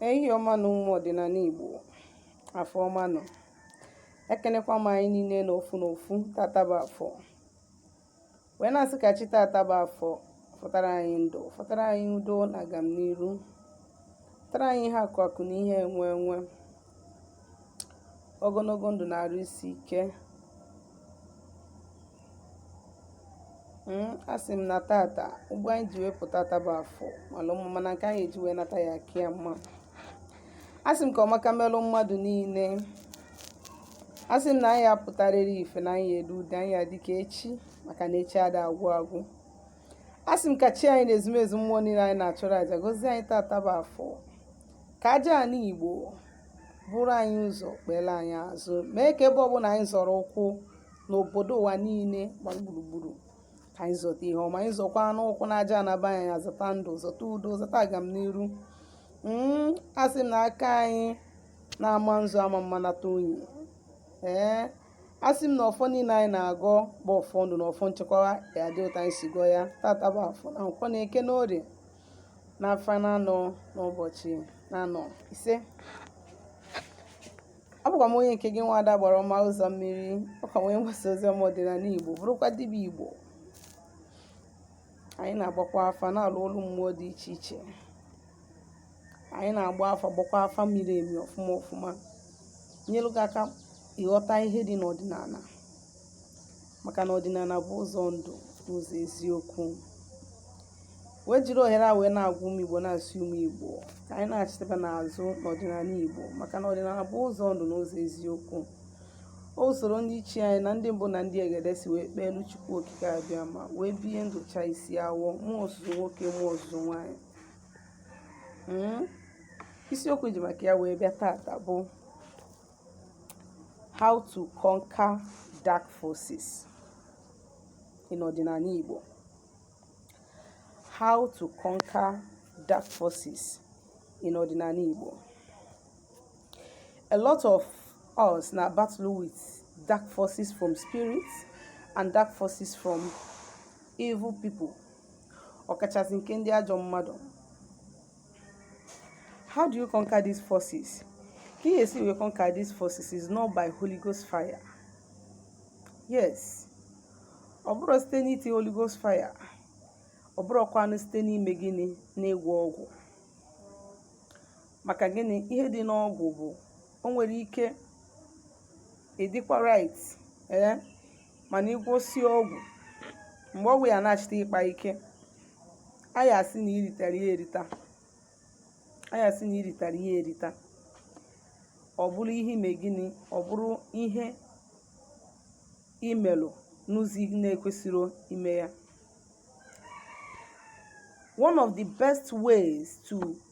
ehi ọma nụ ụmụ ọdịnala Igbo afọ ọma nụ ekenekwa m anyị niile n'ofu n'ofu tata bụ afọ wee na-asị ka chi tata bụ afọ fọtara anyị ndụ fọtara anyị udo na agamniru fọtara anyị ihe akụ akụ na ihe enwe enwe ogologo ndụ na arụ isi ike Hmm, a sị m na tata ụgbọ anyị ji wee pụta taa bụ afọ malụ mma mana nke anyị eji wee nata ya ka ya mma a sị m ka ọmaka melụ mmadụ niile a sị m na anyị apụtarịrị ife na anyị elu ude anyị adị ka echi maka na echi ada agwụ agwụ a sị m ka chi anyị na ezumezu mmụọ niile anyị na-achụrụ aja gozie anyị tata bụ afọ ka aja ana igbo buru anyị ụzọ kpere anyị azụ mee ka ebe ọbụla anyị zọrọ ụkwụ n'obodo ụwa niile gba gburugburu ka anyị zọta ihe ọma anyị zọkwanụ ụkwụ n'aja ana be anyị ya zọta ndụ zọta udo zọta agamniru mm, a sị m na aka anyị na-ama nzu amama nata unyi ee asị m na ọfọ niile anyị na-agọ bụ ọfọ ndụ na ọfọ nchekwa ya dị otu anyị si gọọ ya tata bụ afọ na nkwọ na eke na orie na afọ na anọ n'ụbọchị na anọ ise abụkwa m onye nke gị nwa ada Agbara ọma ụzọ mmiri ọkwa m onye mgbasa ozi ọma ọdịnala igbo bụrụkwa dibịa igbo anyị na-agbakwa afa na-alụ ọlụ mmụọ dị iche iche anyị na-agba afa gbakwa afa miri emi ọfụma ọfụma nyelu gị aka ịghọta ihe dị n'ọdịnala maka na ọdịnala bụ ụzọ ndụ na ụzọ eziokwu wee jiri ohere a wee na-agwa ụmụ igbo na-asị ụmụ igbo ka anyị nachitabanụ azụ n'ọdịnala igbo maka na ọdịnala bụ ụzọ ndụ na ụzọ eziokwu ọ bụ usoro ndị ichie anyị na ndị mbụ na ndị egede si wee kpeelu chukwu okike abịama wee bie ndụ chaa isi awọ mụọ ozuzu nwoke mụọ ozuzu nwaanyị hmm? isiokwu ji maka ya wee bịa tata bụ How to conquer dark forces in ọdịnala Igbo How to conquer dark forces in ọdịnala Igbo A lot of us na battle with dark forces from spirits and dark forces from evil people ọkachasị nke ndị ajọ mmadụ How do you conquer these forces? Ka ị ga-esi wee conquer these forces is not by Holy Ghost fire. Yes. Ọ bụrọ site n'iti Holy Ghost fire. Ọ bụrọkwanụ site n'ime gịnị n'ịgwọ ọgwụ. Maka gịnị ihe dị n'ọgwụ bụ o nwere ike ịdịkwa right. Ee. mana ị gwọsie ọgwụ mgbe ọgwụ ya na-achịta ịkpa ike anyị asị na iritara ya erita anyị asị na iritara ya erita ọ bụrụ ihe i me gịnị ọ bụrụ ihe i melu n'ụzọ ị na-ekwesirọ ime ya one of the best ways to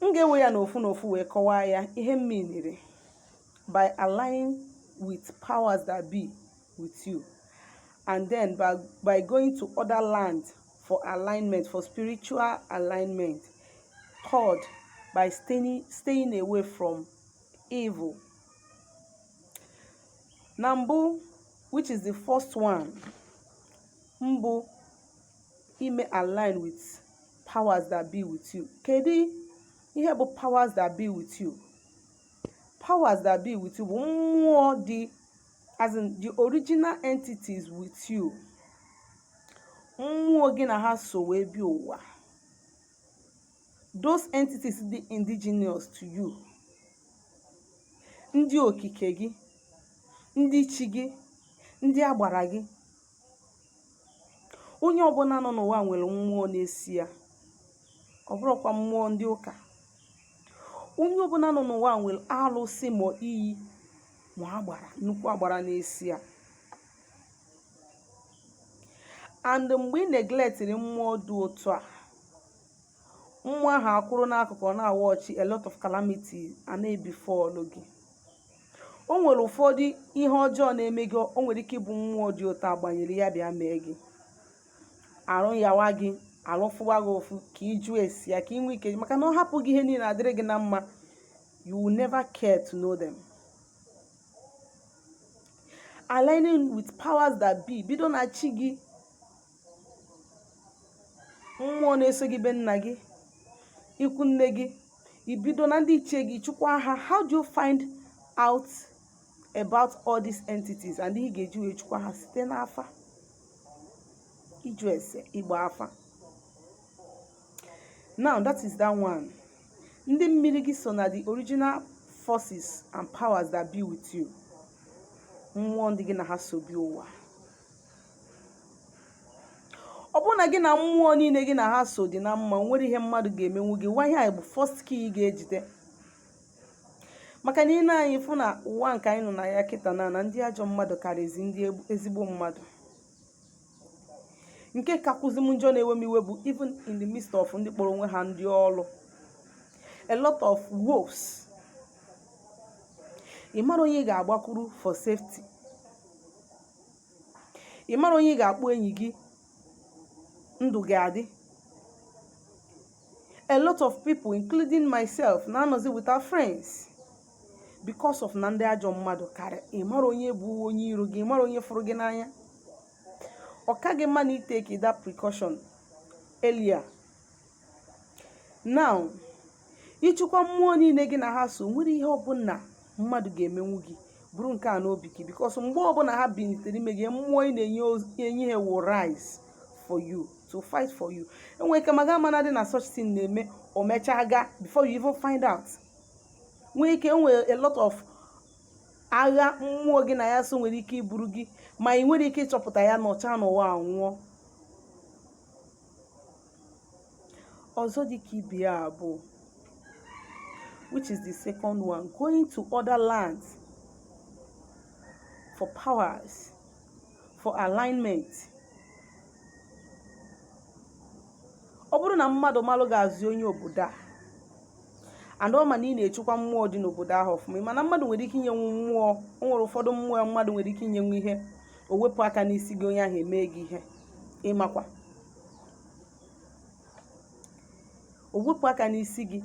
M ga-ewe ya n'ofu n'ofu wee kọwaa ya ihe m meaniri by aligning with powers that be with you and then by, by going to other land for alignment for spiritual alignment third by staying, staying away from evil na mbụ which is the first one mbụ ime align with powers that be with you kedu ihe bụ powers that be with you powers that be with you bụ mmụọ dị as in the original entities with you mmụọ gị na ha so wee bịa ụwa those entities dị indigenous to you ndị okike gị ndị chi gị ndị agbara gị onye ọbụla nọ n'ụwa nwere mmụọ na-eso ya ọ bụrọkwa mmụọ ndị ụka onye ọbụla nọ n'ụwa nwere alụsị ma iyi ma agbara nnukwu agbara na-eso ya and mgbe ị neglectiri mmụọ dị otu a mmụọ ahụ akwụrụ n'akụkụ na-awatchị a lot of calamities a na-ebefallụ gị o nwere ụfọdụ ihe ọjọọ na-eme gị o nwere ike ịbụ mmụọ dị otu a gbanyere ya bịa mee gị arụ yawa gị arụ fụwa gị ụfụ ka ị jụọ ese ya ka ị nwee ike maka na ọ hapụ gị ihe niile adịrị gị na mma you will never care to know them aligning with powers that be bido na chi gị mmụọ na-eso gị be nna gị ikwu nne gị i bido na ndị ichie gị chụkwa ha how do you find out about all these entities and ihe ị ga-eji wee chụkwa ha site n'afa ịjụ ese ịgba afa now that is that one ndị mmiri gị so na the original forces and powers that be with you mmụọ ndị gị na ha so bịa ụwa ọ bụrụ na gị na mmụọ niile gị na ha so dị na mma o nwerọ ihe mmadụ ga-emenwu gị nwa ihe a bụ first key ị ga-ejide maka na i lee anya ị fụ na ụwa nke anyị nọ na ya kịta na na ndị ajọ mmadụ karịzi ndị ezigbo mmadụ nke kakwụzi m njọ na-ewe m iwe bụ even in the midst of ndị kpọrọ onwe ha ndị ọlụ a lot of wolves ị marọ onye ị ga-agbakwuru for safety ị mara onye ị ga-akpọ enyi gị ndụ gị adị a lot of people including myself na-anọzi without friends because of na ndị ajọ mmadụ karị ị mara onye bụ onye iro gị ị mara onye fụrụ gị n'anya ọ ka gị mma na ị take that precaution earlier now ịchịkwa mmụọ niile gị na ha so nwere ihe ọbụla mmadụ ga-emenwu gị buru nke a n'obi gị because mgbe ọbụla ha binitere ime gị mmụọ ị na-enye oz- enye ha will rise for you to fight for you enwere ike ma ga amana dị na such thing na-eme o mechaa gaa before you even find out nwee ike enwere a lot of agha mmụọ gị na ya so nwere ike iburu gị ma ị nwere ike ịchọpụta ya nọchaa n'ụwa anwụọ ọzọ dị ka ibe ya bụ which is the second one going to other lands for powers for alignment ọ bụrụ na mmadụ malụ gị as onye obodo a and ọ ma na ị na-echukwa mmụọ dị n'obodo ahụ ọfụma ị ma na mmadụ nwere ike inyenwu mmụọ o nwere ụfọdụ mmụọ mmadụ nwere ike inyenwu ihe o wepụ aka n'isi gị onye ahụ emee gị ihe ị makwa o wepụ aka n'isi gị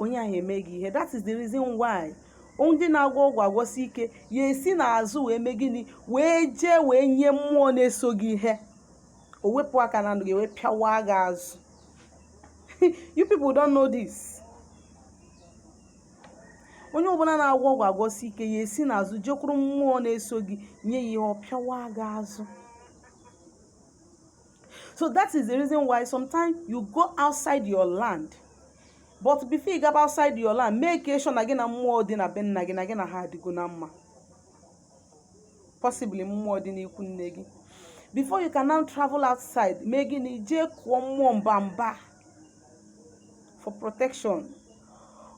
onye ahụ eme gị ihe that is the reason why ndị na-agwọ ọgwụ agwọsi ike ya esi n'azụ wee mee gịnị wee jee wee nye mmụọ na-eso gị ihe o wepụ aka na ndụ gị wee pịawa gị azụ you people don't know this onye ọbụla na-agwọ ọgwụ agwọsi ike ya esi n'azụ jekwuru mmụọ na-eso gị nye ya ihe ọ pịawa gị azụ so that is the reason why sometimes you go outside your land but before you gaba outside your land make sure na gị na mmụọ dị na be nna gị na gị na ha adịgo na mma possibly mmụọ dị n'ikwu nne gị before you can now travel outside mee gịnị jekwuo mmụọ mba mba for protection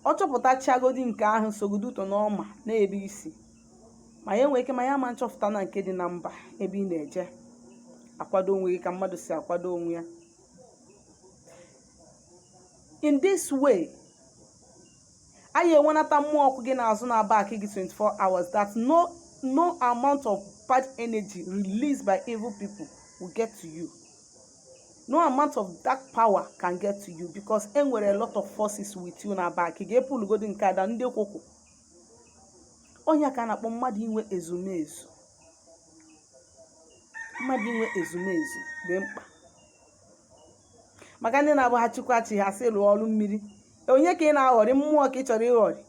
ọ chọpụtachagodi nke ahụ sogodo ụtọ n'ọma n'ebe i si ma ya nwee ike ma ya ma nchọpụta na nke dị na mba ebe ị na-eje akwado onwe gị ka mmadụ si akwado onwe ya in this way ị ya-enwenata mmụọ kwụ gị n'azụ na-aback gị 24 hours that no no amount of bad energy released by evil people will get to you no amount of dark power can get to you because enwere a lot of forces with you na-aback gị epulugodi nke ada ndị kwụkwụ ọ nya ka a na-akpọ mmadụ inwe ezumezu mmadụ inwe ezumezu dị mkpa maka ndị na-abụ ha chukwa chi ha sị lụọ ọrụ mmiri onye ka ị na-aghọrị mmụọ ka ị chọrọ ịghọrị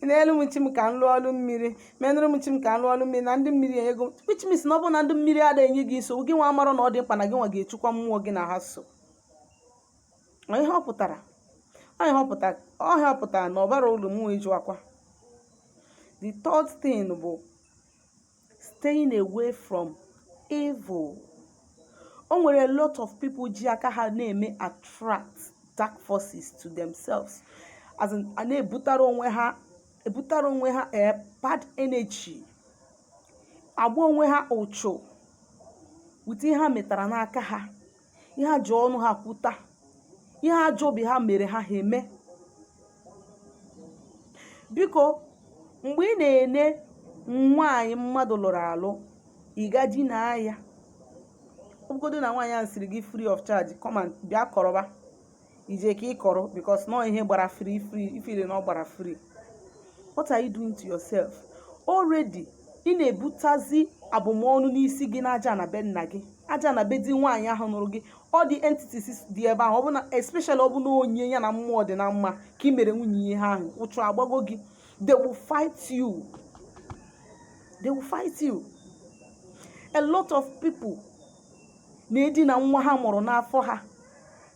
n'elu m chi m ka m lụọ ọrụ mmiri menụrụ m chi m ka m lụọ ọrụ mmiri na ndị mmiri enye gị which means na ọ bụrụ na ndị mmiri adịghị enye gị nsogbu gị nwa amarọ na ọ dị mkpa na gị nwa ga-echukwa mmụọ gị na ha so Ọ ihe ọ pụtara ọ ihe ọ pụtara ọ ihe ọ pụtara na ọbara olu mmụọ ịjụ akwa the third thing bụ staying away from evil o nwere a lot of people ji aka ha na-eme attract dark forces to themselves as in a na-ebutara onwe ha ebutara onwe ha eh, bad energy agba onwe ha ụchụ with ihe ha metara n'aka ha ihe ha ji ọnụ ha kwuta ihe ajọ obi ha mere ha ha eme biko mgbe ị na-ene nwaanyị mmadụ lụrụ alụ ị ga dinaa ya ọbụgodo na nwaanyị ahụ siri gị free of charge come and bịa kọrọba ije ka ị kọrọ because na ọ ihe gbara free free ị feel na ọ gbara free what are you doing to yourself already ị na-ebutazi abụmọnụ n'isi gị na ajana be nna gị ajana be di nwaanyị ahụ nụrụ gị all the entities dị ebe ahụ ọ bụ na especially ọ bụ na onye ya na mmụọ dị na mma ka ị mere nwunye ihe ahụ ụchụ agbago gị they will fight you they will fight you a lot of people na-edina nwa ha mụrụ n'afọ ha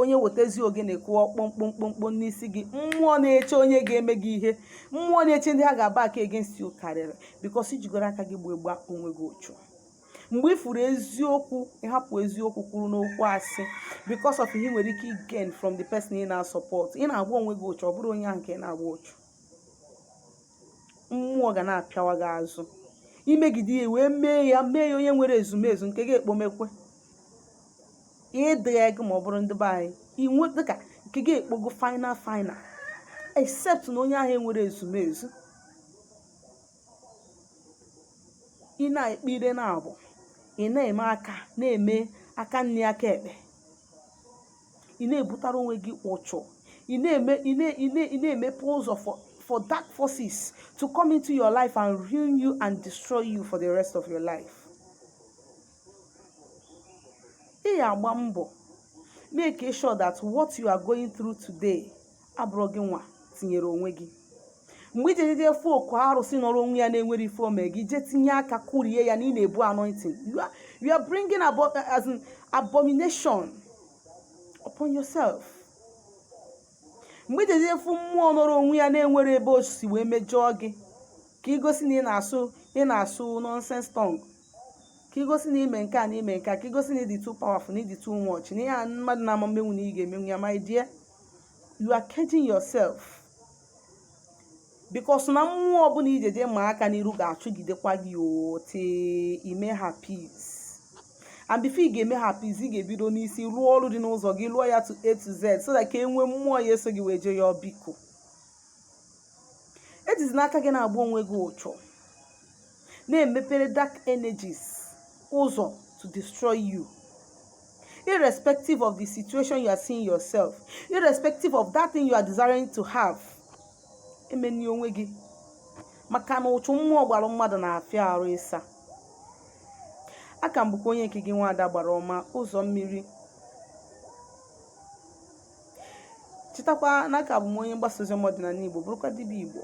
onye wetezi ogene kụọ kpọmkpọmkpọmkpọ n'isi gị mmụọ na-eche onye ga-eme gị ihe mmụọ na-eche ndị ha ga-aba aka against you karịrị because i jigoro aka gị gboo gba onwe gị ụchụ mgbe ị furu eziokwu ị hapụ eziokwu kwụrụ n'okwu asị because of ihe i nwere ike gain from the person ị na-support ị na-agba onwe gị ụchụ ọ bụrọ onye ahụ ka ị na-agba ụchụ mmụọ ga na-apịawa gị azụ i megide ya wee mee ya mee ya onye nwere ezumezu nke gị ekpomekwe ịdịghị ego ma ọ bụrụ ndị be anyị inwe dịka nke gị ekpogo final final except na onye ahụ enwerọ ezumezu ị na-ekpe ire naabọ ị na-eme aka na-eme aka nri aka ekpe ị na-ebutara onwe gị ụchụ ị na-eme ị na- ị na- ị na-emepe ụzọ for for dark forces to come into your life and ruin you and destroy you for the rest of your life ị ya-agba mbọ make sure that what you are going through today abụrụ gị nwa tinyere onwe gị mgbe i ji jeje fụ oku arụsị nọrọ onwe ya na enwerọ ife o me gị je tinye aka kụrie ya na ị na-ebu anointing you are, you are bringing abo as in abomination upon yourself mgbe i ji jeje fụ mmụọ nọrọ onwe ya na enwerọ ebe o si wee mejọọ gị ka i gosi na ị na-asụ ị na-asụ nonsense tongue ka i gosi na i me nke a na i me nke a ka i gosi na ị dị too powerful na ị dị too much na ihe a mmadụ na-ama emenwu na ị ga-emenwu ya my dear you are caging yourself because na mmụọ ọbụla i jeje maa aka n'iru ga-achụgidekwa gị till i me ha peace and before ị ga-eme ha peace ị ga-ebido n'isi lụọ ọlụ dị n'ụzọ gị lụọ ya to a to z so that ka e nwee mmụọ ya-eso gị wee jee ya biko ejizina aka gị na-agba onwe gị ụchụ na-emepere dark energies ụzọ to destroy you irrespective of the situation you are seeing yourself irrespective of that thing you are desiring to have emeni onwe gị maka na ụchụ mmụọ gbara mmadụ na-afịa arụ ịsa a ka m bụkwa onye nke gị nwaada agbara ọma ụzọ mmiri chetakwa na a ka bụ m onye mgbasa ozi ọma ọdịnanị igbo bụrụkwa dibịa igbo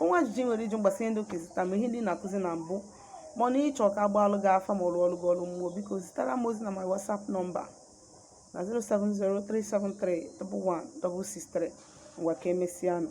o nwee ajụjụ i nwere ịjụ m gbasa ihe ndị a kụzi taa ma ihe ndị na-akụzi na mbụ ma na ị chọ ka a gbaalụ gị afa ma rụọlụ gị ọlụ mmụọ biko zitara m ozi na my whatsapp nọmba na 07037311663 ngwa ka emesịa nụ